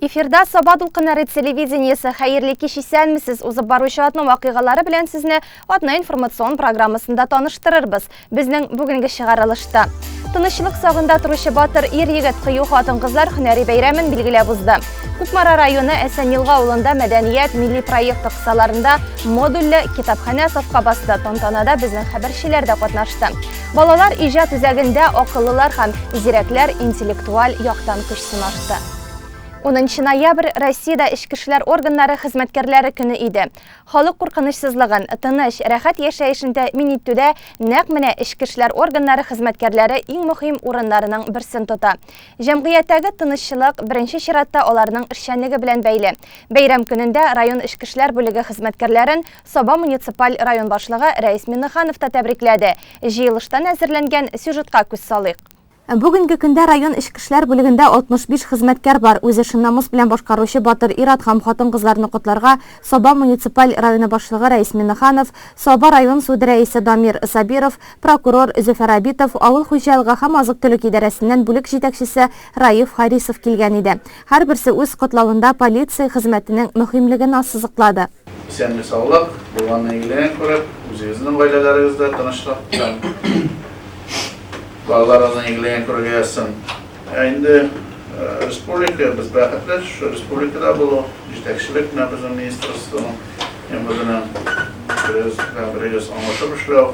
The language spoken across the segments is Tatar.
Эфирда Саба дулкыннары телевидениесе хәерле кич исәнмесез. Узып баручы атның вакыйгалары белән сезне атна информацион программасында таныштырырбыз. Безнең бүгенге чыгарылышта Тынычлык сагында торучы батыр ир-егет кыю хатын-кызлар һөнәри бәйрәмен билгеләп узды. Кукмара районы Әсәнилга авылында мәдәният милли проекты кысаларында модульле китапханә сафка басты. Тантанада безнең хәбәрчеләр дә катнашты. Балалар иҗат үзәгендә акыллылар һәм зирәкләр интеллектуаль яктан көч сынашты. 10 ноябрь Россиядә эчке эшләр органнары хезмәткәрләре көне иде. Халык куркынычсызлыгын, тыныч, рәхәт яшәешен тәэмин итүдә нәкъ менә эчке эшләр органнары хезмәткәрләре иң мөһим урыннарның берсен тота. Җәмгыятьтәге тынычлык, беренче чиратта, аларның эшчәнлеге белән бәйле. Бәйрәм көнендә район эчке эшләр бүлеге хезмәткәрләрен Саба муниципаль район башлыгы Рәис Миңнеханов та тәбрикләде. Җыелыштан әзерләнгән сюжетка күз салыйк. Бүгенге көндә район эчке эшләр бүлегендә 65 хезмәткәр бар. Үз эшен намус белән башкаручы батыр ир-ат һәм хатын-кызларны котларга Саба муниципаль районы башлыгы Рәис Миннеханов, Саба район суды рәисе Дамир Сабиров, прокурор Зөфәр Абитов, авыл хуҗалыгы һәм азык-төлек идарәсеннән бүлек җитәкчесе Раиф Харисов килгән иде. Һәрберсе үз котлавында полиция хезмәтенең мөһимлеген ассызыклады. Исәнлек-саулык, булганны игелеген күреп, үзегезнең гаиләләрегездә тынычлык һәм балаларыгызның игелеген күрергә язсын. Ә инде республика, без бәхетле шушы республикада булу, җитәкчелек менә безнең министерствоның һәм үзенең берегез белән берегез аңлашып эшләү,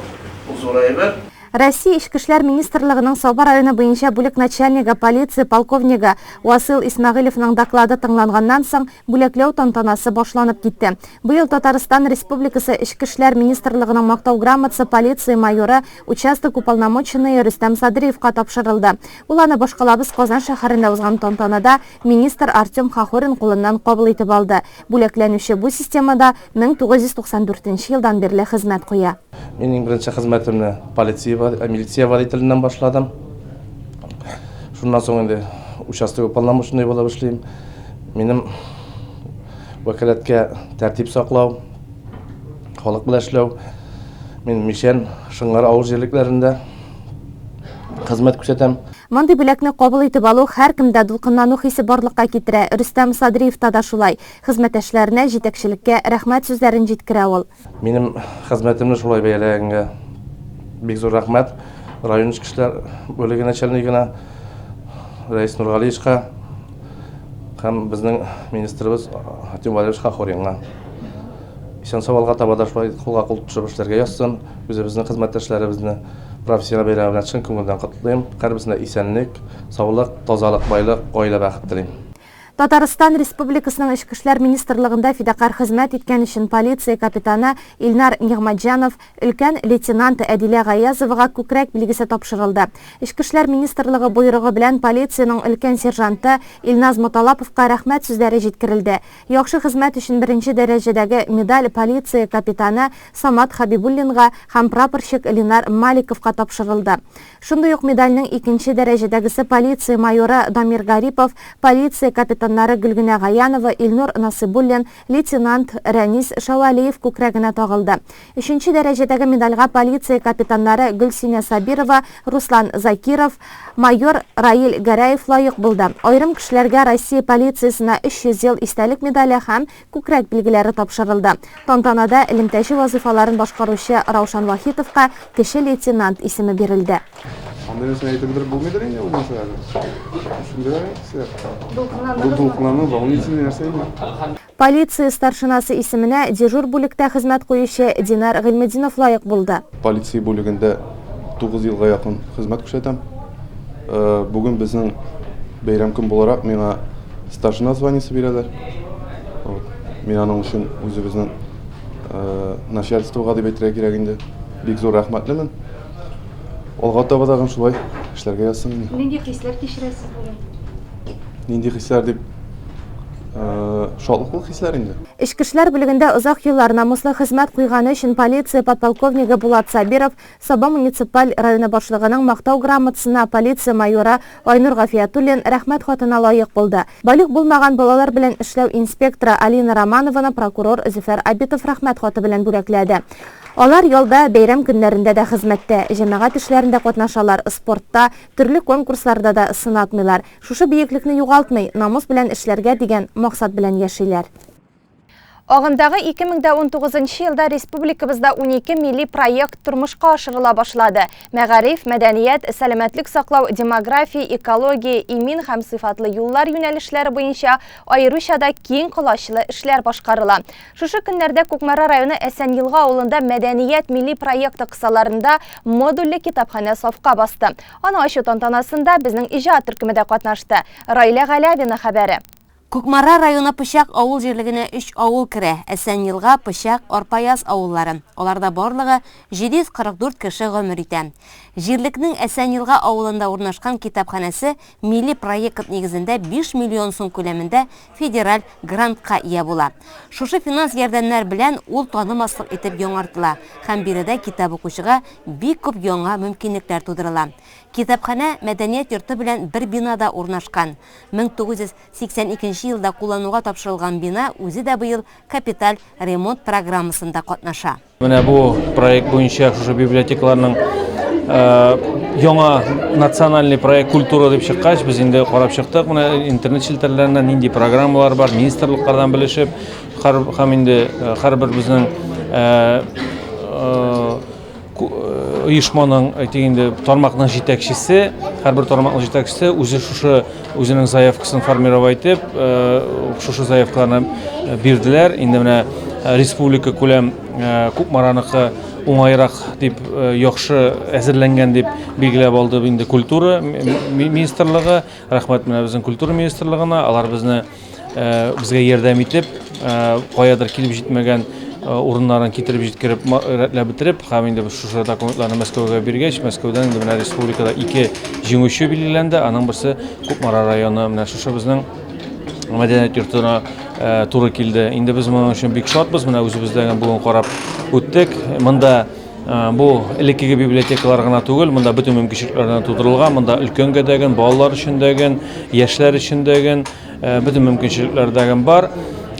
ул зур әйбер. Россия Эчке эшләр министрлыгының Саба районы буенча бүлек начальнигы, полиция полковнигы Васыйл Исмәгыйлевның доклады тыңланганнан соң, бүләкләү тантанасы башланып китте. Быел Татарстан Республикасы Эчке эшләр министрлыгының Мактау грамотасы полиция майоры, участок уполномоченные Рөстәм Садриевка тапшырылды. Ул аны башкалабыз Казан шәһәрендә узган тантанада министр Артем Хохорин кулыннан кабул итеп алды. Бүләкләнүче бу системада 1994 нче елдан бирле хезмәт куя. Мин иң беренче хезмәтемне полиция, милиция водителеннән башладым. Шуннан соң инде участок уполномоченный булып эшлим. Минем вәкаләткә тәртип саклау, халык белән эшләү. Мин Мишән, Шыңгар авыл җирлекләрендә хезмәт күрсәтәм. Мондый бүләкне кабул итеп алу һәркемдә дулкынлану хисе барлыкка китерә. Рөстәм Садриевта да шулай. Хезмәттәшләренә, җитәкчелеккә рәхмәт сүзләрен җиткерә ул. Минем хезмәтемне шулай бәяләгәнгә бик зур рәхмәт район эчке эшләр бүлеге начальнигына Рәис Нургалиевичка һәм безнең министрыбыз Артем Валерьевич Хохоринга. Исән-сау алга таба да шулай кулга-кул тотышып эшләргә язсын. Үзебезнең хезмәттәшләребезне профессиональ бәйрәме белән чын күңелдән котлыйм. Һәрберсенә исәнлек, саулык, тазалык, байлык, гаилә бәхете телим. Татарстан Республикасының Эчке эшләр министрлыгында фидакарь хезмәт иткән өчен полиция капитаны Илнар Нигъмәтҗанов, өлкән лейтенант Әдилә Гаязовага Күкрәк билгесе тапшырылды. Эчке эшләр министрлыгы боерыгы белән полициянең өлкән сержанты Илназ Моталаповка рәхмәт сүзләре җиткерелде. Яхшы хезмәт өчен беренче дәрәҗәдәге медаль полиция капитаны Самат Хәбибуллинга һәм прапорщик Ленар Маликовка тапшырылды. Шундый ук медальнең икенче дәрәҗәдәгесе полиция майоры Дамир Гарипов, полиция капитаннары Гөлгенә Гаянова, Илнур Насыйбуллин, лейтенант Рәнис Шәвәлиев күкрәгенә тагылды. Өченче дәрәҗәдәге медальгә полиция капитаннары Гөлсинә Сабирова, Руслан Закиров, майор Раил Гәрәев лаек булды. Аерым кешеләргә Россия полициясенә 300 ел истәлек медале һәм Күкрәк билгеләре тапшырылды. Тантанада элемтәче вазыйфаларын башкаручы Раушан Вахитовка кече лейтенант исеме бирелде. Андый нәрсә әйтеп бетереп булмыйдыр инде ул нәрсәләрне. Төшендерәләр инде кешеләр. Бу дулкынлану, волнительный нәрсә инде. Полиция старшинасы исеменә дежур бүлектә хезмәт куючы Динар Гыйльметдинов лаек булды. Полиция бүлегендә Тугыз елга якын хезмәт күрсәтәм. Э, Бүген безнең бәйрәм көн буларак миңа старшина званиесе бирәләр. Вот. Мин аның өчен үзебезнең э, начальствога дип әйтергә кирәк инде. Бик зур рәхмәтлемен. Алга таба тагын шулай эшләргә язсын инде. Нинди хисләр кичерәсез бүген? Нинди хисләр дип э, шатлыклы хисләр инде. Эчке эшләр бүлегендә озак еллар намуслы хезмәт куйганы өчен полиция подполковнигы Булат Сабиров Саба муниципаль районы башлыгының Мактау грамотасына полиция майоры Айнур Гафиятуллин Рәхмәт хатына лаек булды. Балигъ булмаган балалар белән эшләү инспекторы Алина Романованы прокурор Зөфәр Абитов Рәхмәт хаты белән бүләкләде. Алар ялда, бәйрәм көннәрендә дә хезмәттә, җәмәгать эшләрендә катнашалар, спортта, төрле конкурсларда да сынатмыйлар. Шушы биеклекне югалтмый, намус белән эшләргә дигән максат белән яшиләр. Агымдагы 2019 елда республикабызда унике милли проект тормышка ашырыла башлады. Мәгариф, мәдәният, сәламәтлек саклау, демография, экология, имин һәм сыйфатлы юллар юнәлешләре буенча аеруча да киң колачлы эшләр башкарыла. Шушы көннәрдә Кукмара районы Әсәньелга авылында Мәдәният милли проекты кысаларында модульле китапханә сафка басты. Аның ачу тантанасында безнең иҗат төркеме дә катнашты. Раилә Галявина хәбәре. Кукмара районы Пычак авыл җирлегенә өч авыл керә, Әсәнъелга, Пычак, Арпаяз авыллары. Аларда барлыгы 744 кеше гомер итә. Җирлекнең Әсәнъелга авылында урнашкан китапханәсе милли проект нигезендә биш миллион сум күләмендә федераль грантка ия була. Шушы финанс ярдәмнәр белән ул танымаслык итеп яңартыла һәм биредә китап укучыга бик күп яңа мөмкинлекләр тудырыла. Китапханә мәдәният йорты белән бер бинада урнашкан. 1982 елда куллануга тапшырылган бина үзе дә быел капиталь ремонт программасында катнаша. Менә бу проект буенча шушы библиотекаларның яңа национальный проект культура дип чыккач, без инде карап чыктык. Менә интернет челтәрләрендә нинди программалар бар, министрлыклардан белешеп, һәм инде һәрбер безнең оешманың әйтик инде тармакның җитәкчесе, һәрбер тармакның җитәкчесе үзе шушы Үзенең заявкасын формировать итеп, э, шушы заявкаларны э, бирделәр. Инде менә э, республика күләм Кукмараныкы уңайрак дип яхшы әзерләнгән дип билгеләп алды инде культура министрлыгы. Рәхмәт менә безнең культура министрлыгына. Алар безне безгә ярдәм итеп, каядыр килеп җитмәгән урыннарын китереп җиткереп рәтләп бетереп һәм инде шушы документларны Мәскәүгә биргәч, Мәскәүдән инде менә республикада ике җиңүче билгеләнде. Аның берсе Кукмара районы, менә шушы безнең мәдәният йортына туры килде. Инде без моның өчен бик шатбыз. Менә үзебездә бүген карап үттек. Монда Бу элеккеге библиотекалар гына түгел, монда бөтен мөмкинчелекләр генә тудырылган. Монда өлкәнгә дәген, балалар өчен дәген, яшьләр өчен дәген, бөтен мөмкинчелекләр дәген бар.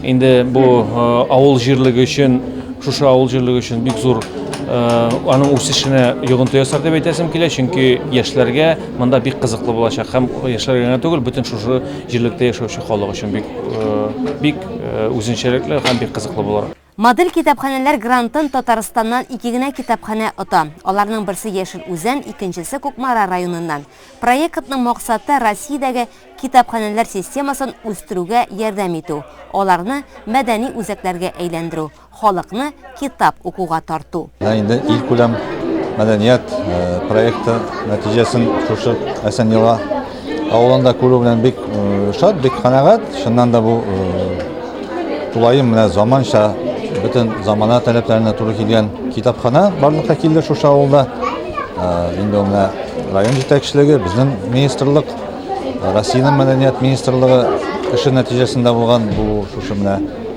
Инде бу авыл җирлеге өчен, шушы авыл җирлеге өчен бик зур аның үсешенә йогынты ясар дип әйтәсем килә, чөнки яшьләргә монда бик кызыклы булачак һәм яшьләргә генә түгел, бөтен шушы җирлектә яшәүче халык өчен бик бик үзенчәлекле һәм бик кызыклы булыр. Модель китапханәләр грантын Татарстаннан ике генә китапханә ота. Аларның берсе Яшел Үзән, икенчесе Кукмара районыннан. Проектның максаты, Россиядәге китапханәләр системасын үстерүгә ярдәм итү, аларны мәдәни үзәкләргә әйләндерү, халыкны китап укуга тарту. Менә инде илкүләм мәдәният проекты нәтиҗәсен шушы әсән йола Авылында күрү белән бик шат, бик канәгать. Шуннан да бу тулаем менә заманча бөтен замана таләпләренә туры килгән китапхана барлыкка килде шушы авылда. Инде менә район җитәкчелеге, безнең министрлык, Россиянең мәдәният министрлыгы эше нәтиҗәсендә булган бу шушы менә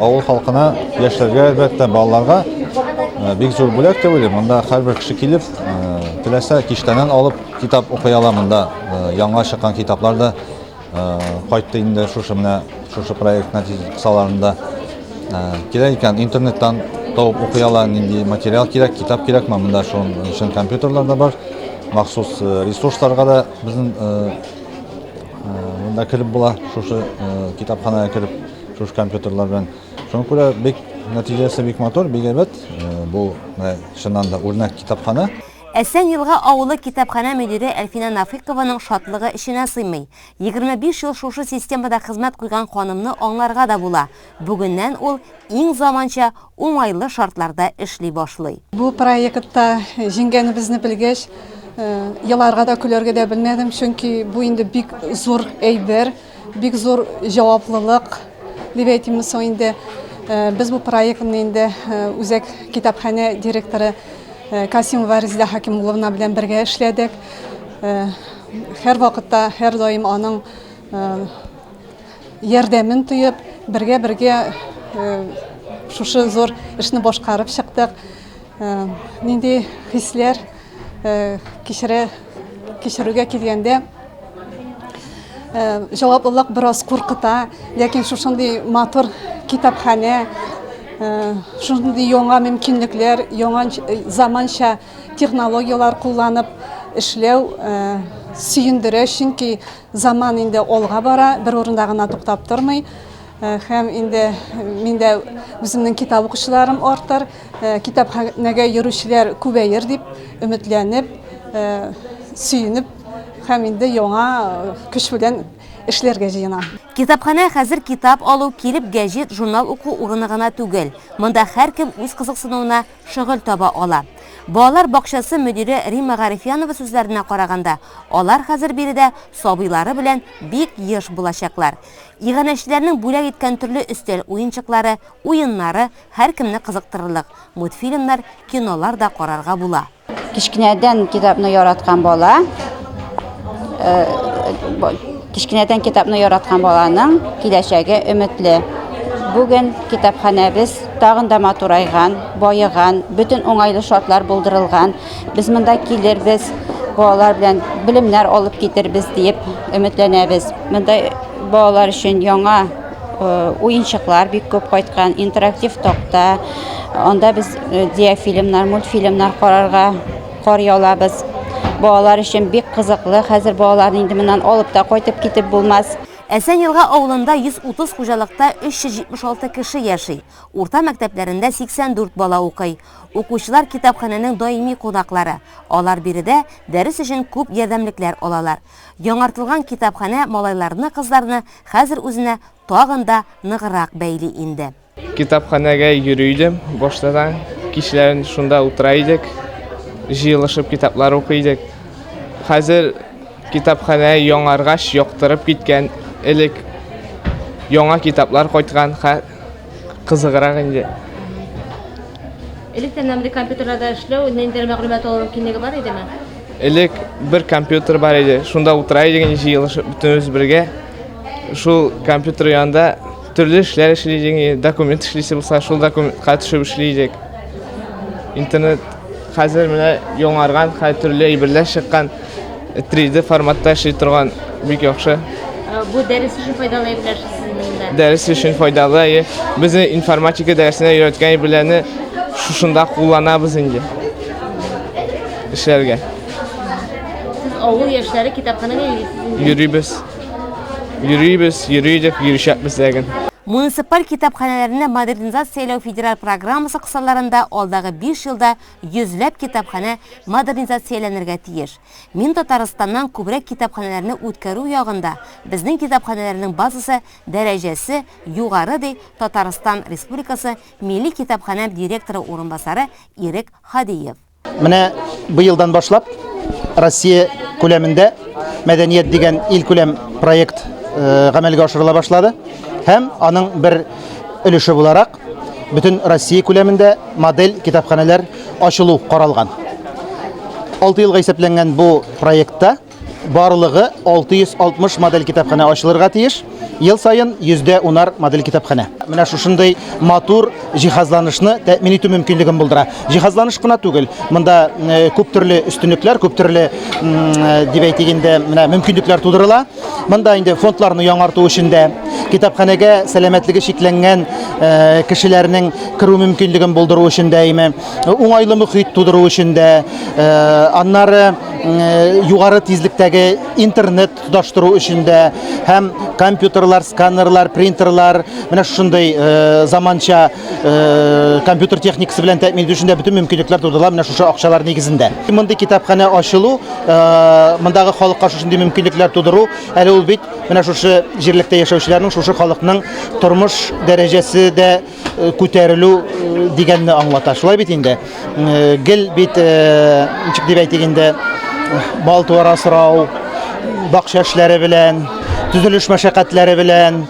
Авыл халкына, яшьләргә, әлбәттә, балаларга э, бик зур бүләк дип уйлыйм. Монда һәрбер кеше килеп, э, теләсә киштәнән алып китап укый ала монда. Э, яңа чыккан китаплар да кайтты инде шушы менә шушы проект нәтиҗәсаларында. Кирәк икән интернеттан табып укый ала, нинди материал кирәк, китап кирәкме, монда шуның өчен компьютерлар да бар. Махсус ресурсларга да безнең монда кереп була, шушы китапханәгә кереп шушы компьютерлар белән. Шуңа күрә бик нәтиҗәсе бик матур, бик әйбәт. Э, бу менә чыннан да үрнәк китапханә. Әсән Елга авылы китапханә мөдире Әлфинә Нафыйкованың шатлыгы эченә сыймый. 25 ел шушы системада хезмәт куйган ханымны аңларга да була. Бүгеннән ул иң заманча, уңайлы шартларда эшли башлый. Бу проектта җиңгәнебезне белгәч, э, еларга да көләргә дә белмәдем, чөнки бу инде бик зур әйбер. Бик зур җаваплылык, дип әйтимме соң инде. Э, без бу проектны инде э, үзәк китапханә директоры э, Касимова Резидә Хакимулловна белән бергә эшләдек. Һәр вакытта, һәр даим аның ярдәмен тоеп, бергә-бергә шушы зур эшне башкарып чыктык. Нинди хисләр? Кичерә кичерүгә килгәндә җаваплылык бераз куркыта, ләкин шушындый матур китапханә, шундый яңа мөмкинлекләр, яңа заманча технологияләр кулланып эшләү сөендерә, чөнки заман инде алга бара, бер урында гына туктап тормый. Һәм инде мин дә үземнең китап укучыларым артыр, китапханәгә йөрүчеләр күбәер дип өметләнеп, сөенеп һәм инде яңа көч белән эшләргә җыенам. Китапханә хәзер китап алу, килеп гәҗит, журнал уку урыны гына түгел. Монда һәркем үз кызыксынуына шөгыль таба ала. Балалар бакчасы мөдире Римма Гарифьянова сүзләренә караганда, алар хәзер биредә сабыйлары белән бик еш булачаклар. Иганәчеләрнең бүләк иткән төрле өстәл уенчыклары, уеннары, һәркемне кызыктырырлык мультфильмнар, кинолар да карарга була. Кечкенәдән китапны яраткан бала, кечкенәдән китапны яраткан баланың киләчәге өметле. Бүген китапханәбез тагын да матурайган, баеган, бөтен уңайлы шартлар булдырылган. Без монда килербез, балалар белән белемнәр алып китербез диеп өметләнәбез. Монда балалар өчен яңа уенчыклар бик күп кайткан, интерактив такта. Анда без диафильмнар, мультфильмнар карарга карый алабыз. Балалар өчен бик кызыклы. Хәзер балаларны инде моннан алып та кайтып китеп булмас. Әсән Елга авылында 130 хуҗалыкта 376 кеше яши. Урта мәктәпләрендә 84 бала укый. Укучылар китапханәнең даими кунаклары, алар биредә дәрес өчен күп ярдәмлекләр алалар. Яңартылган китапханә малайларны-кызларны хәзер үзенә тагын да ныграк бәйли инде. Китапханәгә йөри идем башта да. Кичләрен шунда утыра идек, җыелышып китаплар укый идек. Хәзер китапханә яңаргач, яктырып киткән, элек яңа китаплар кайткан, Кызыграк инде. Электән андый компьютерларда эшләү, ниндидер мәгълүмат алу мөмкинлеге бар идеме? Элек бер компьютер бар иде. Шунда утыра идек инде җыелышып бөтенебез бергә. Шул компьютер янында төрле эшләр эшли идек. Документ эшлисе булса, шул документка төшеп эшли идек. Интернет Хәзер менә яңарган, хәзер төрле әйберләр чыккан. 3D форматта эшли торган бик яхшы. Э, бу дәрес өчен файдалы әйберләр сезнең Дәрес өчен файдалы. Безне информатика дәресенә өйрәткән әйберләрне шушында кулланабыз инде. Эшләргә. Сез авыл яшьләре китапханәгә йөрисезме? Йөрибез. Йөрибез, йөридек, йөришәкбез ләген. Муниципаль китапханәләрне модернизацияләү федераль программасы кысаларында алдагы биш елда йөзләп китапханә модернизацияләнергә тиеш. Мин Татарстаннан күбрәк китапханәләрне үткәрү ягында, безнең китапханәләрнең базасы дәрәҗәсе югары, ди Татарстан Республикасы Милли китапханәм директоры урынбасары Ирек Һадиев. Менә быелдан башлап Россия күләмендә мәдәният дигән ил күләм проект э, гамәлгә ашырыла башлады һәм аның бер өлеше буларак бөтен Россия күләмендә модель китапханәләр ачылу каралган. 6 елга исәпләнгән бу проектта Барлыгы 660 модель китапханә ачылырга тиеш. Ел саен йөздә унар модель китапханә. Менә шушындый матур җиһазланышны тәэмин итү мөмкинлеген булдыра. Җиһазланыш кына түгел, монда э, күп төрле өстенлекләр, күп төрле э, дип әйтик инде, менә мөмкинлекләр тудырыла. Монда инде фондларны яңарту өчен дә китапханәгә сәламәтлеге шикләнгән э, кешеләрнең керү мөмкинлеген булдыру өчен дә име уңайлы мөхит тудыру өчен дә, аннары югары тизлектәге интернет тоташтыру өчен дә һәм компьютерлар, сканерлар, принтерлар, менә шушындый заманча компьютер техникасы белән тәэмин итү өчен дә бөтен мөмкинлекләр тудырыла менә шушы акчалар нигезендә. Мондый китапханә ачылу, мондагы халыкка шушындый мөмкинлекләр тудыру, әле ул бит менә шушы җирлектә яшәүчеләрнең, шушы халыкның тормыш дәрәҗәсе дә, Э, күтәрелү э, дигәнне аңлата. Шулай бит инде. Э, гел бит ничек дип әйтик инде бал туара сорау, бакча эшләре белән, төзелеш мәшәкатьләре белән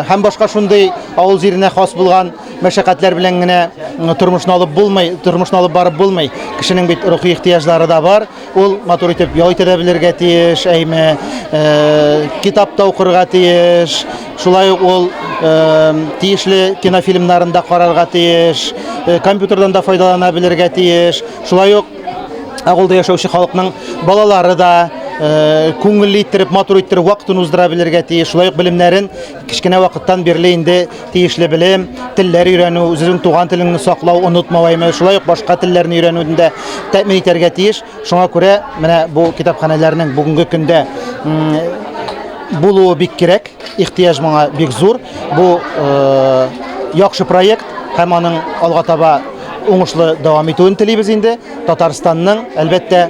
һәм башка шундый авыл җиренә хас булган мәшәкатьләр белән генә тормышны алып булмый, тормышны алып барып булмый. Кешенең бит рухи ихтыяҗлары да бар. Ул матур итеп ял итә дә белергә тиеш, әйме, э, китап та укырга тиеш. Шулай ук ул э, тиешле кинофильмнарын да карарга тиеш, э, компьютердан да файдалана белергә тиеш. Шулай ук авылда яшәүче халыкның балалары да э, күңелле иттереп, матур иттереп вакытын уздыра белергә тиеш. Шулай ук белемнәрен Кечкенә вакыттан бирле инде тиешле белем, телләр өйрәнү, үзеңнең туган телеңне саклау, онытмау әйме, шулай ук башка телләрне өйрәнүне дә тәэмин итәргә тиеш. Шуңа күрә менә бу китапханәләрнең бүгенге көндә булуы бик кирәк, ихтыяҗ моңа бик зур. Бу э, яхшы проект һәм аның алга таба уңышлы дәвам итүен телибез инде. Татарстанның, әлбәттә,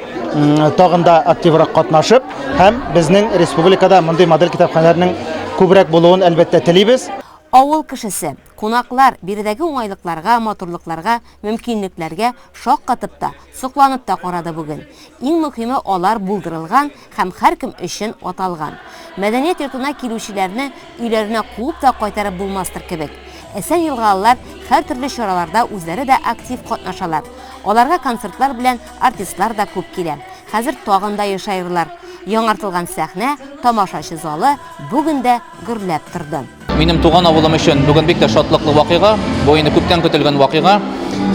тагын да активрак катнашып, Һәм безнең республикада мондый модель китапханәләрнең күбрәк булуын, әлбәттә, телибез. Авыл кешесе, кунаклар биредәге уңайлыкларга, матурлыкларга, мөмкинлекләргә шаккатып та, сокланып та карады бүген. Иң мөхиме алар булдырылган һәм һәркем өчен аталган. Мәдәният йортына килүчеләрне өйләренә куып та кайтарып булмастыр кебек. Әсән-елгалылар һәртөрле чараларда үзләре дә актив катнашалар. Аларга концертлар белән Артистлар да күп килә. Хәзер тагын да ешаерлар. Яңартылган сәхнә, тамашачы залы бүген дә гөрләп торды. Минем туган авылым өчен бүген бик тә шатлыклы вакыйга. Бу инде күптән көтелгән вакыйга.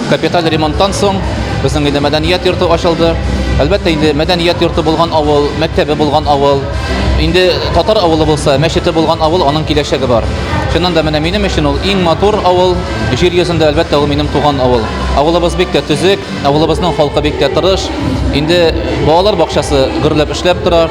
Капиталь ремонттан соң безнең инде мәдәният йорты ачылды. Әлбәттә, инде мәдәният йорты булган авыл, мәктәбе булган авыл, инде татар авылы булса, мәчете булган авыл, аның киләчәге бар. Чыннан да менә минем өчен ул иң матур авыл. Җир йөзендә, әлбәттә, ул минем туган авыл. Авылыбыз бик тә төзек. Авылыбызның халкы бик тә тырыш. Инде балалар бакчасы гөрләп эшләп тора,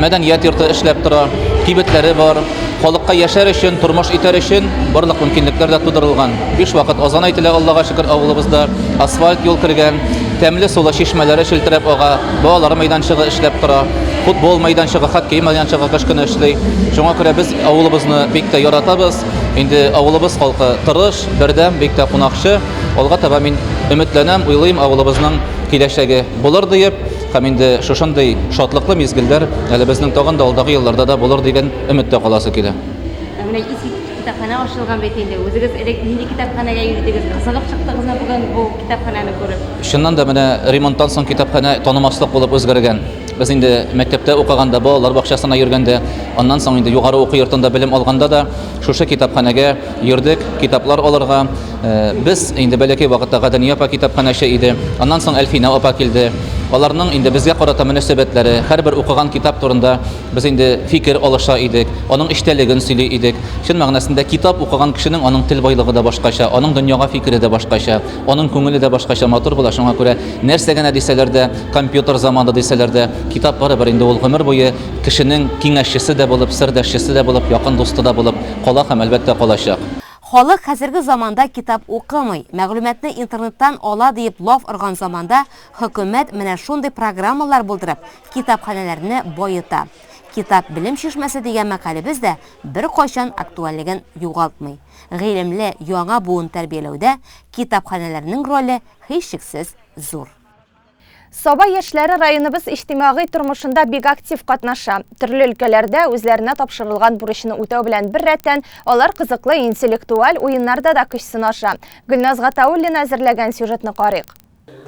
мәдәният йорты эшләп тора, кибетләре бар. Халыкка яшәр өчен, тормыш итәр өчен барлык мөмкинлекләр дә тудырылган. Биш вакыт азан әйтелә, Аллага шөкер, авылыбызда асфальт юл кергән, тәмле сулы чишмәләре челтерәп ага, балалар мәйданчыгы эшләп тора, футбол мәйданчыгы, хоккей мәйданчыгы кыш көне эшли. Шуңа күрә без авылыбызны бик тә яратабыз. Инде авылыбыз халкы тырыш, бердәм, бик тә кунакчы. Алга таба мин өметләнәм, уйлыйм, авылыбызның киләчәге булыр диеп, һәм инде шушындый шатлыклы мизгелләр әле безнең тагын да алдагы елларда да булыр дигән өметтә каласы килә. Ә менә иске китапханә ачылган бит инде. Үзегез элек нинди китапханәгә йөридегез? Кызыгып чыктыгызмы бүген бу китапханәне күреп? Чыннан да, менә ремонттан соң китапханә танымаслык булып үзгәргән. Без инде мәктәптә укыганда, балалар бакчасына йөргәндә, аннан соң инде югары уку йортында белем алганда да шушы китапханәгә йөрдек, китаплар алырга. Без инде бәләкәй вакытта Гадания апа китапханәче иде. Аннан соң Әлфинә апа килде. Аларның инде безгә карата мөнәсәбәтләре, һәрбер укыган китап турында без инде фикер алыша идек, аның эчтәлеген сөйли идек. Чын мәгънәсендә китап укыган кешенең аның тел байлыгы да башкача, аның дөньяга фикере дә башкача, аның күңеле дә башкача матур була. Шуңа күрә нәрсә генә дисәләр дә, компьютер заманы дисәләр дә, китап барыбер инде ул гомер буе кешенең киңәшчесе дә булып, сердәшчесе дә булып, якын дусты да булып кала һәм, әлбәттә, калачак. Халык хәзерге заманда китап укымый, мәгълүматны интернеттан ала диеп лаф орган заманда хөкүмәт менә шундый программалар булдырып, китапханәләрне баета. Китап белем чишмәсе дигән мәкалебез дә беркайчан актуальлеген югалтмый. Гыйлемле яңа буын тәрбияләүдә китапханәләрнең роле һичшиксез зур. Саба яшьләре районыбыз иҗтимагый тормышында бик актив катнаша. Төрле өлкәләрдә үзләренә тапшырылган бурычны үтәү белән беррәттән, алар кызыклы интеллектуаль уеннарда да көч сынаша. Гөлназ Гатауллина әзерләгән сюжетны карыйк.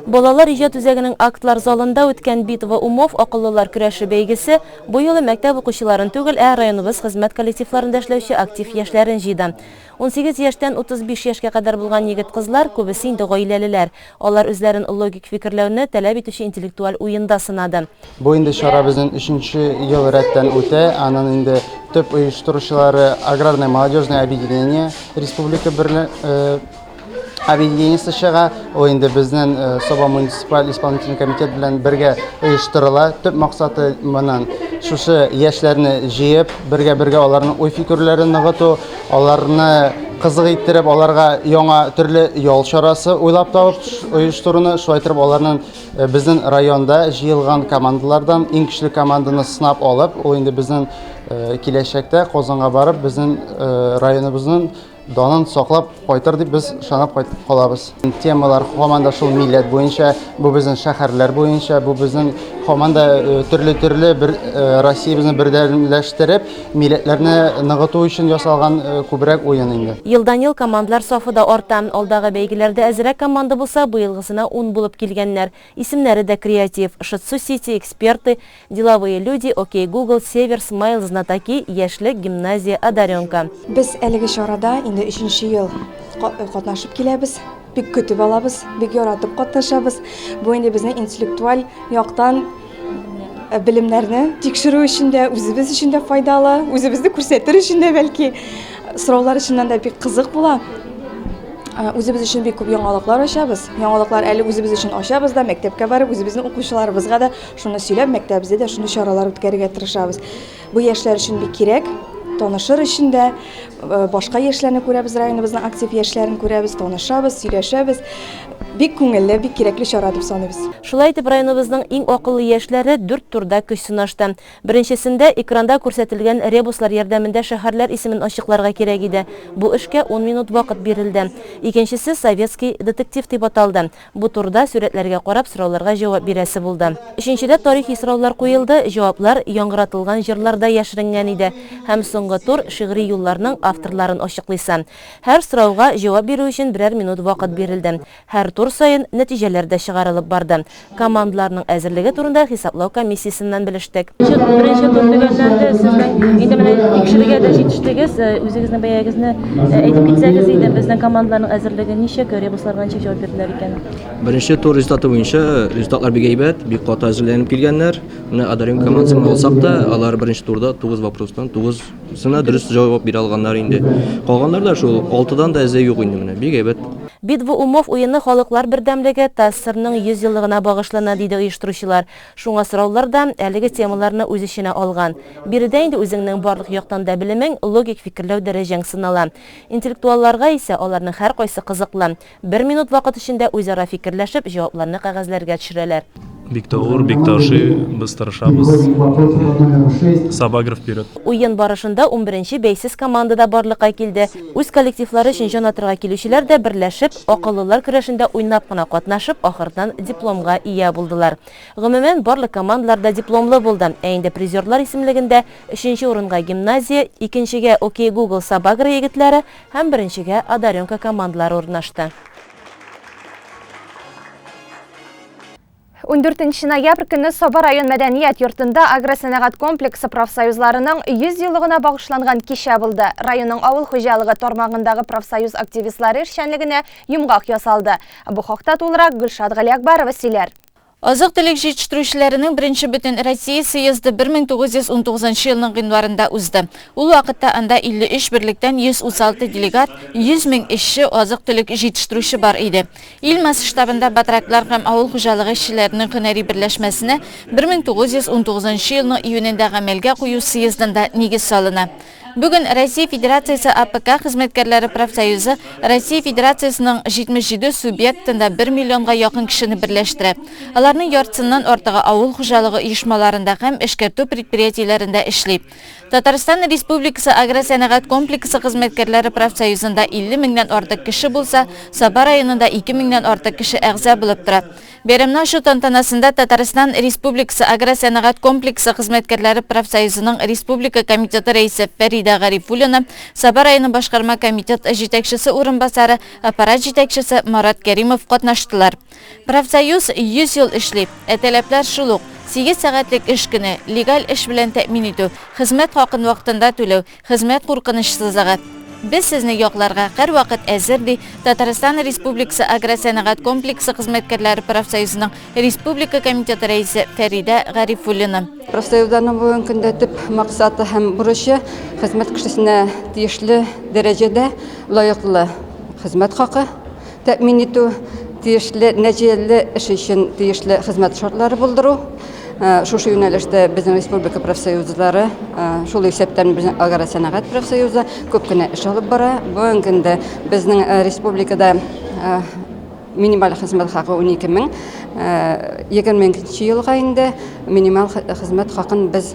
Балалар иҗат үзәгенең актлар залында үткән Битва умов, акыллылар көрәше бәйгесе бу юлы мәктәп укучыларын түгел, ә районыбыз хезмәт коллективларында эшләүче актив яшьләрен җыйды. Унсигез яшьтән 35 яшькә кадәр булган егет-кызлар, күбесе инде гаиләлеләр. Алар үзләрен логик фикерләүне таләп итүче интеллектуаль уенда сынады. Бу инде чара безнен өченче ел рәттән үтә. Анын инде төп оештыручылары Аграрное молодежное объединение республика берле. объединениесе чыга. Ул инде безнең э, Соба муниципаль исполнительный комитет белән бергә оештырыла. Төп максаты монын шушы яшьләрне җыеп, бергә-бергә аларның уй-фикерләрен ныгыту, аларны кызык иттереп, аларга яңа төрле ял чарасы уйлап табып оештыруны, шулай итеп аларның э, безнең районда җыелган командалардан иң көчле команданы сынап алып, ул инде безнең э, киләчәктә Казанга барып, безнең районыбызның Данын саклап кайтыр дип без шанап кайтып калабыз. Темалар һаман да шул милләт буенча, бу безнең шәһәрләр буенча, бу безнең һаман да э, төрле-төрле бер э, Россиябезне бердәмләштереп, милләтләрне ныгыту өчен ясалган э, күбрәк уен инде. Елдан-ел командлар сафы да арта. Алдагы бәйгеләрдә әзрәк команда булса, быелгысына ун булып килгәннәр. Исемнәре дә креатив, Шитсу Сити, Эксперты, Деловые люди, Окей Гугл, Север, Смайл, Знатоки, Яшьлек, Гимназия, Одаренка. Без әлеге чарада инде өченче ел катнашып киләбез. Бик көтеп алабыз, бик яратып катнашабыз. Бу инде безнең интеллектуаль яктан Э, белемнәрне тикшерү өчен дә үзебез өчен дә файдалы үзебезне күрсәтер өчен дә бәлки сораулар чыннан да бик кызык була э, үзебез өчен бик күп яңалыклар ачабыз яңалыклар әле үзебез өчен ачабыз да мәктәпкә барып үзебезнең укучыларыбызга да Шуны сөйләп, мәктәбебездә дә шундый чаралар үткәрергә тырышабыз. Бу яшьләр өчен бик кирәк. Танышыр өчен дә э, башка яшьләрне күрәбез, районыбызның актив яшьләрен күрәбез, танышабыз, сөйләшәбез. Бик күңелле, бик кирәкле чара дип саныйбыз. Шулай итеп, районыбызның иң акыллы яшьләре дүрт турда көч сынашты. Беренчесендә экранда күрсәтелгән ребуслар ярдәмендә шәһәрләр исемен ачыкларга кирәк иде. Бу эшкә ун минут вакыт бирелде. Икенчесе Советский детектив дип аталды. Бу турыда сурәтләргә карап сорауларга җавап бирәсе булды. Өченчедә тарихи сораулар куелды, җаваплар яңгыратылган җырларда яшеренгән иде. Һәм соңгы тур, шигъри юлларның авторларын ачыклыйсы. Һәр сорауга җавап бирү өчен берәр минут вакыт бирелде. Һәр тур саен нәтиҗәләр дә чыгарылып барды. Командаларның әзерлеге турында хисаплау комиссиясеннән белештек. Беренче тур төгәлләнде, сез инде менә икешелегә дә җитештегез. Үзегезнең бәягезне Ә әйтеп китсәгез иде, безнең командаларның әзерлеге ничек, ребуслар белән ничек җавап бирделәр икән? Беренче тур результаты буенча результатлар бик әйбәт, бик каты әзерләнеп килгәннәр. Менә Адарим командасын алсак та, алар беренче турда 9 вопростан 9-сына дөрес җавап бирә алганнар инде. Калганнар да шул, 6-дан да әзе юк инде менә, бик әйбәт. Бит бу Умов уены халыклар бердәмлеге, ТАССРның 100 еллыгына багышлана, диде оештыручылар. Шуңа сораулар да әлеге темаларны үз эченә алган. Биредә инде үзеңнең барлык яктан да белемең, логик фикерләү дәрәҗәң сынала. Интеллектуалларга исә аларның һәркайсы кызыклы. Бер минут вакыт эчендә үзара фикерләшеп, җавапларны кәгазьләргә төшерәләр. Бик тә авыр, бик тә ашый. Без тырышабыз. Сабаграф биреп. Уен барышында унберенче бәйсез команда да барлыкка килде. Үз коллективлары өчен җан атырга килүчеләр дә берләшеп, Акыллылар көрәшендә уйнап кына катнашып, ахырдан дипломга ия булдылар. Гомумән, барлык командалар да дипломлы булды. Ә инде призерлар исемлегендә өченче урынга Гимназия, икенчегә Окей Гугл Сабагра егетләре һәм беренчегә Одаренка командалары урнашты. Ундүртенче ноябрь көнне Саба район мәдәният йортында агросәнәгать комплексы профсоюзларының 100 еллыгына багышланган кичә булды. Районның авыл хуҗалыгы тармагындагы профсоюз активистлары эшчәнлегенә йомгак ясалды. Бу хакта тулырак Гөлшат Галиәкбарова сөйләр. Азык-төлек җитештерүчеләренең беренче Бөтенроссия съезды 1919 елның гыйнварында узды. Ул вакытта анда 53 берлектән 136 делегат, 100 мең эшче, азык-төлек җитештерүче бар иде. Ил масштабында Батраклар һәм авыл хуҗалыгы эшчеләренең һөнәри берләшмәсенә 1919 елның июнендә гамәлгә кую съездында нигез салына. Бүген Россия Федерациясе АПК хезмәткәрләре профсоюзы Россия Федерациясенең 77 субъектында бер миллионга якын кешене берләштерә. Аларның яртысыннан артыгы авыл хуҗалыгы оешмаларында һәм эшкәртү предприятиеләрендә эшли. Татарстан Республикасы агросәнәгать комплексы хезмәткәрләре профсоюзында 50 меңнән артык кеше булса, Саба районында 2 меңнән артык кеше әгъза булып тора. Бәйрәмне ачу тантанасында Татарстан Республикасы агросәнәгать комплексы хезмәткәрләре профсоюзының республика комитеты рәисе Фәридә Гарифуллина, Саба районы башкарма комитет җитәкчесе урынбасары, аппарат җитәкчесе Марат Кәримов катнаштылар. Профсоюз 100 ел эшли, ә таләпләр шул ук, сигез сәгатьлек эш көне, легаль эш белән тәэмин итү, хезмәт хакын вакытында түләү, хезмәт куркынычсызлыгы. Без сезне якларга һәрвакыт әзер, ди Татарстан Республикасы агросәнәгать комплексы хезмәткәрләре профсоюзының республика комитеты рәисе Фәридә Гарифуллина. Профсоюзларның бүгенге көндә төп максаты һәм бурычы, хезмәт кешесенә тиешле дәрәҗәдә лаеклы хезмәт хакы, тәэмин итү, тиешле нәтиҗәле эш өчен тиешле хезмәт шартлары булдыру, шушы юнәлештә безнең республика профсоюзлары, шул исәптән безнең агросәнәгать профсоюзы күп кенә эш алып бара. Бүгенге көндә безнең республикада минималь хезмәт хакы 12 мең. 22 елга инде минималь хезмәт хакын без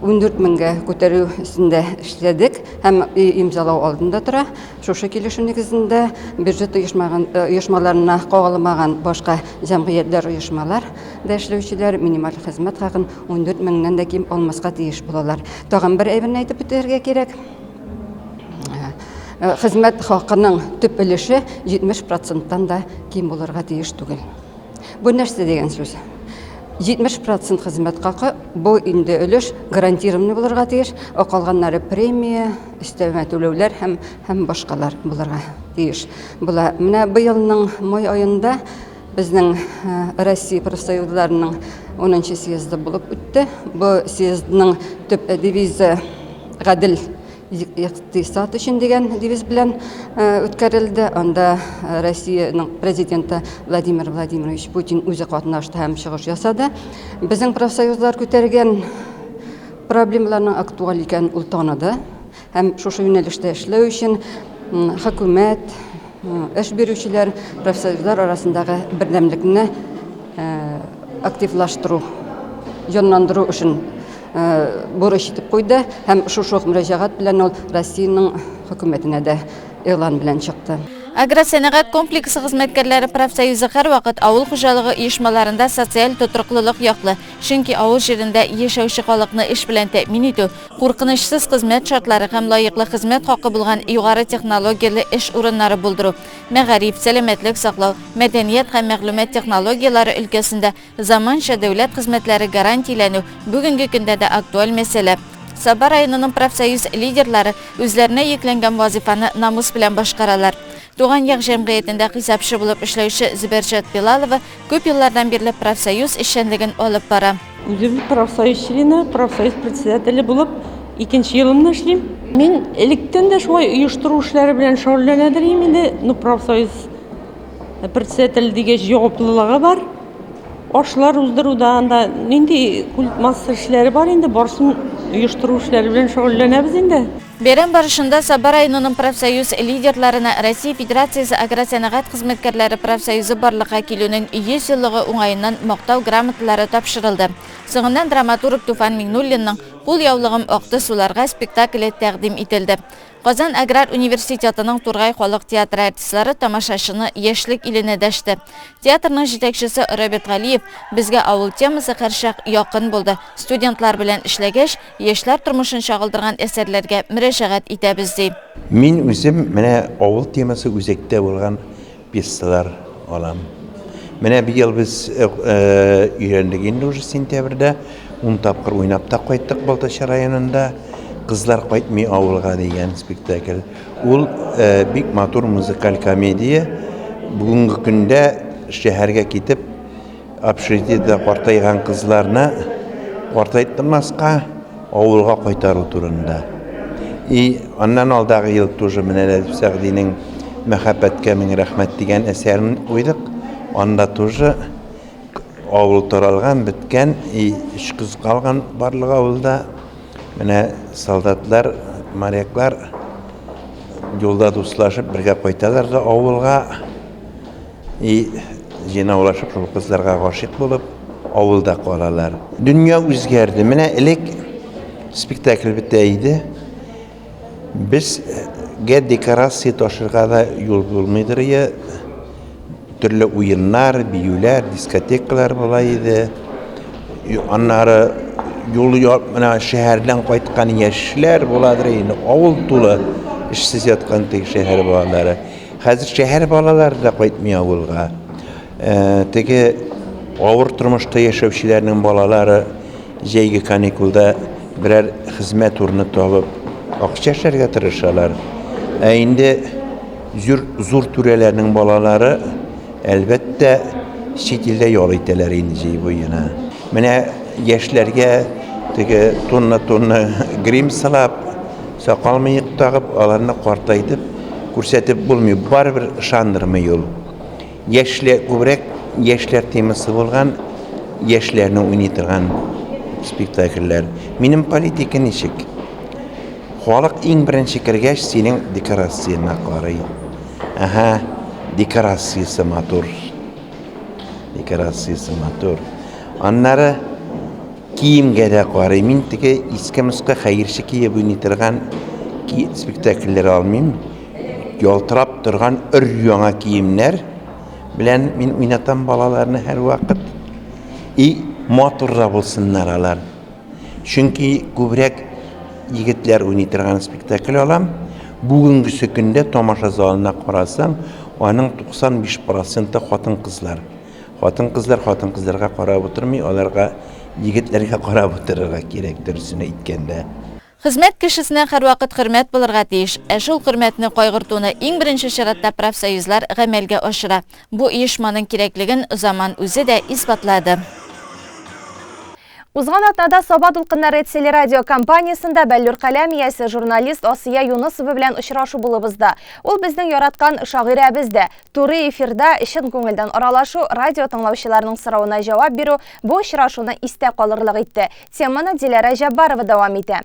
14 меңгә күтәрү өстендә эшләдек һәм имзалау алдында тора. Шушы килешү нигезендә бюджет оешмаган оешмаларына кагылмаган башка җәмгыятьләр, оешмалар да эшләүчеләр минималь хезмәт хакын 14 меңнән дә ким алмаска тиеш булалар. Тагын бер әйберне әйтеп үтәргә кирәк. Хезмәт хакының төп өлеше 70 проценттан да ким булырга тиеш түгел. Бу нәрсә дигән сүз? 70 процент хезмәт хакы, бу инде өлеш гарантированный булырга тиеш, ә калганнары премия, өстәмә түләүләр һәм һәм башкалар булырга тиеш була. Менә быелның май аенда безнең Россия профсоюзларының 10 съезды булып үтте. Бу съездның төп девизы гадел икътисад өчен дигән девиз белән үткәрелде. Анда Россиянең президенты Владимир Владимирович Путин үзе катнашты һәм чыгыш ясады. Безнең профсоюзлар күтәргән Проблемаларның актуаль икәнен ул таныды һәм шушы юнәлештә эшләү өчен хөкүмәт, эш бирүчеләр, профсоюзлар арасындагы бердәмлекне активлаштыру, җанландыру эшен бурыч итеп куйды һәм шушы ук мөрәҗәгать белән ул Россиянең Хөкүмәтенә дә игълан белән чыкты. Агросәнәгать комплексы хезмәткәрләре профсоюзы һәрвакыт авыл хуҗалыгы оешмаларында социаль тотрыклылык яклы, Чөнки авыл җирендә яшәүче халыкны эш белән тәэмин итү, куркынычсыз хезмәт шартлары һәм лаеклы хезмәт хакы булган югары технологияле эш урыннары булдыру, мәгариф, сәламәтлек саклау, мәдәният һәм мәгълүмат технологияләре өлкәсендә заманча дәүләт хезмәтләре гарантияләнү бүгенге көндә дә актуаль мәсьәлә. Саба районының профсоюз лидерлары үзләренә йөкләнгән вазыйфаны намус белән башкаралар. Туган як җәмгыятендә хисапчы булып эшләүче Зөбәрҗәт Билалова күп еллардан бирле профсоюз эшчәнлеген алып бара. Үзем профсоюз члены, профсоюз председателе булып икенче елымны эшлим. Мин электән дә шулай оештыру эшләре белән шөгыльләнә дирим инде. Ну, профсоюз председателе дигәч, җаваплылыгы бар. Ашлар уздыру да, анда нинди культмасса эшләре бар инде, барсын оештыру эшләре белән шөгыльләнәбез инде. Бәйрәм барышында Саба районының профсоюз лидерларына Россия Федерациясе агросәнәгать хезмәткәрләре профсоюзы барлыкка килүнең 100 еллыгы уңаеннан Мактау грамоталары тапшырылды. Соңыннан драматург Туфан Миңнуллинның Кул яулыгым акты суларга спектакле тәкъдим ителде. Казан аграр университетының Тургай халык театры артистлары тамашачыны яшьлек иленә дәште. Театрның җитәкчесе Роберт Галиев, Безгә авыл темасы һәрчак якын булды. Студентлар белән эшләгәч, Яшьләр тормышын чагылдырган әсәрләргә мөрәҗәгать итәбез, ди. Мин үзем менә авыл темасы үзәктә булган пьесалар алам. Менә быел без өйрәндек инде уже сентябрьдә, ун тапкыр уйнап та кайттык Балтач районында, Кызлар кайтмый авылга дигән спектакль. Ул бик матур музыкаль комедия. Бүгенге көндә шәһәргә китеп, Общежитиедә картайган кызларны картайтмаска авылга кайтару турында. И аннан алдагы ел тоже менә Рәдиф Сәгъдинең Мәхәббәткә мең рәхмәт дигән әсәрен куйдык. Анда тоже авыл таралган, беткән, и өч кыз калган барлык авылда. Менә солдатлар, моряклар юлда дуслашып бергә кайталар да авылга. И җыйнаулашып шул кызларга гашыйк булып авылда калалар. Дөнья үзгәрде. Менә элек спектакль бетә иде. Безгә декорация ташырга да юл булмыйдыр я төрле уеннар, биюләр, дискотекалар була иде. Аннары юл менә шәһәрдән кайткан яшьләр буладыр инде. Авыл тулы эшсез яткан теге шәһәр балалары. Хәзер шәһәр балалары да кайтмый авылга. Теге авыр тормышта яшәүчеләрнең балалары җәйге каникулда берәр хезмәт урыны табып, акча эшләргә тырышалар. Ә инде зур, зур түрәләрнең балалары, әлбәттә, чит илдә ял итәләр инде җәй буена. Менә яшьләргә теге тонна-тонна грим сылап, Сакал-мыек тагып, аларны картайтып күрсәтеп булмый, барыбер ышандырмый ул. Яшьләр, күбрәк яшьләр темасы булган, яшьләрне уйный торган спектакльләр. Минем политика ничек? Халык иң беренче кергәч, синең декорацияңә карый. Әһә, декорациясе матур. Декорациясе матур. Аннары... Киемгә дә карыйм. Мин теге иске-москы хәерче киеп уйный торган ки спектакльләр алмыйм. Ялтырап торган өр-яңа киемнәр белән мин уйнатам балаларны һәрвакыт. И матур да булсыннар алар. Чөнки күбрәк егетләр уйный торган спектакль алам. Бүгенгесе көндә тамаша залына карасаң, аның 95 проценты хатын-кызлар. Хатын-кызлар хатын-кызларга карап утырмый, аларга егетләргә карап утырырга кирәк, дөресен әйткәндә. Хезмәт кешесенә һәрвакыт хөрмәт булырга тиеш, ә шул хөрмәтне кайгыртуны иң беренче чиратта профсоюзлар гамәлгә ашыра. Бу оешманың кирәклеген заман үзе дә исбатлады. Узган атнада Саба дулкыннары телерадио компаниясендә Бәллүр каләм иясе, журналист Асия Юнысова белән очрашу булып узды. Ул безнең яраткан шагыйрәбез дә. Туры эфирда чын күңелдән аралашу, радио тыңлаучыларның соравына җавап бирү бу очрашуны истә калырлык итте. Теманы Диләрә Җәббарова дәвам итә.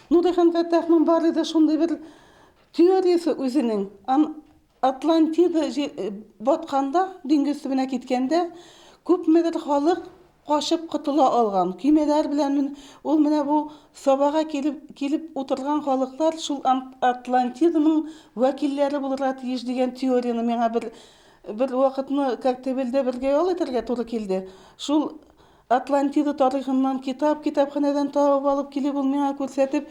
Нурихан Фәттахның бар иде шундый бер теориясе үзенең. Атлантида батканда, диңгез төбенә киткәндә, күпмедер халык качып котыла алган. Көймәләр белән ул менә бу Сабага килеп килеп утырган халыклар шул Атлантиданың вәкилләре булырга тиеш дигән теорияне миңа бер бер вакытны Коктебелдә бергә ял итәргә туры килде. Шул Атлантида тарихыннан китап, китапханәдән табып алып килеп, ул миңа күрсәтеп,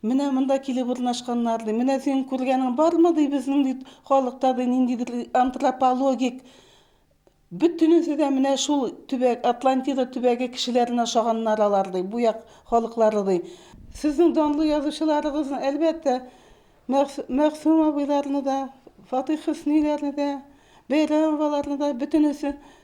Менә монда килеп урнашканнар, ди. Менә синең күргәнең бармы, ди, безнең, ди, халыкта, ди, ниндидер антропологик Бөтенесе дә менә шул төбәк, Атлантида төбәге кешеләренә ошаганнар алар, ди, бу як халыклары, ди. Сезнең данлы язучыларыгызны, әлбәттә, Мәгъсүм абыйларны да, Фатыйх Хөсниләрне дә, Бәйрәмоваларны да, бөтенесе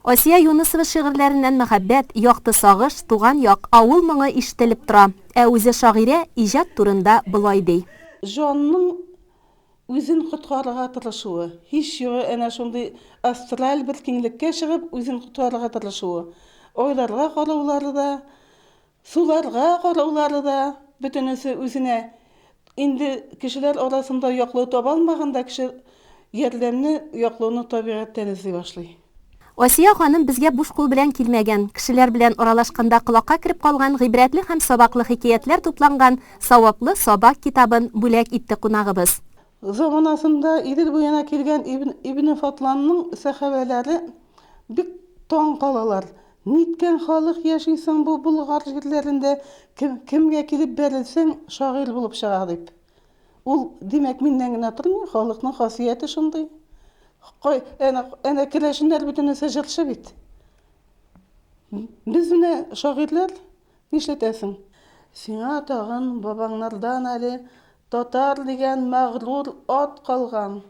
Асия Юнысова шигырьләреннән мәхәббәт, якты сагыш, туган як, авыл моңы ишетелеп тора. Ә үзе шагыйрә иҗат турында болай ди. Җанның үзен коткарырга тырышуы, һич югы әнә шундый астраль бер киңлеккә чыгып үзен коткарырга тырышуы, айларга караулары да Суларга караулары да, бөтенесе үзенә. Инде кешеләр арасында яклау таба алмаганда, кеше ярдәмне, яклауны табигатьтән эзли башлый. Асия ханым безгә буш кул белән килмәгән. Кешеләр белән аралашканда колакка кереп калган гыйбрәтле һәм сабаклы хикәятләр тупланган Саваплы сабак китабын бүләк итте кунагыбыз. Заманасында Идел буена килгән Ибне Фатланның сәхабәләре бик таң калалар. Ниткән халык яши соң бу Болгар җирләрендә, кемгә килеп бәрелсәң, шагыйрь булып чыга дип. Ул, димәк, миннән генә тормый, халыкның хасияте шундый. Кай, әнә, әнә керәшеннәр бөтенесе җырчы бит. Без менә шагыйрьләр, нишләтәсең? Сиңа тагын бабаңнардан әле татар дигән мәгърур ат калган.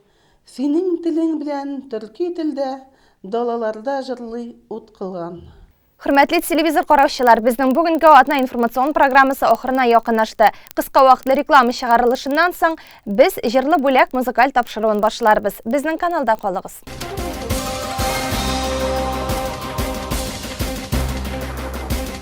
Синең телең белән төрки телдә Далаларда җырлый ут кылган. Хөрмәтле телевизор караучылар, безнең бүгенге атна информацион программасы ахырына якынлашты. Кыска вакытлы реклама чыгарылышыннан соң, без Җырлы бүләк музыкаль тапшыруын башларбыз. Безнең каналда калыгыз.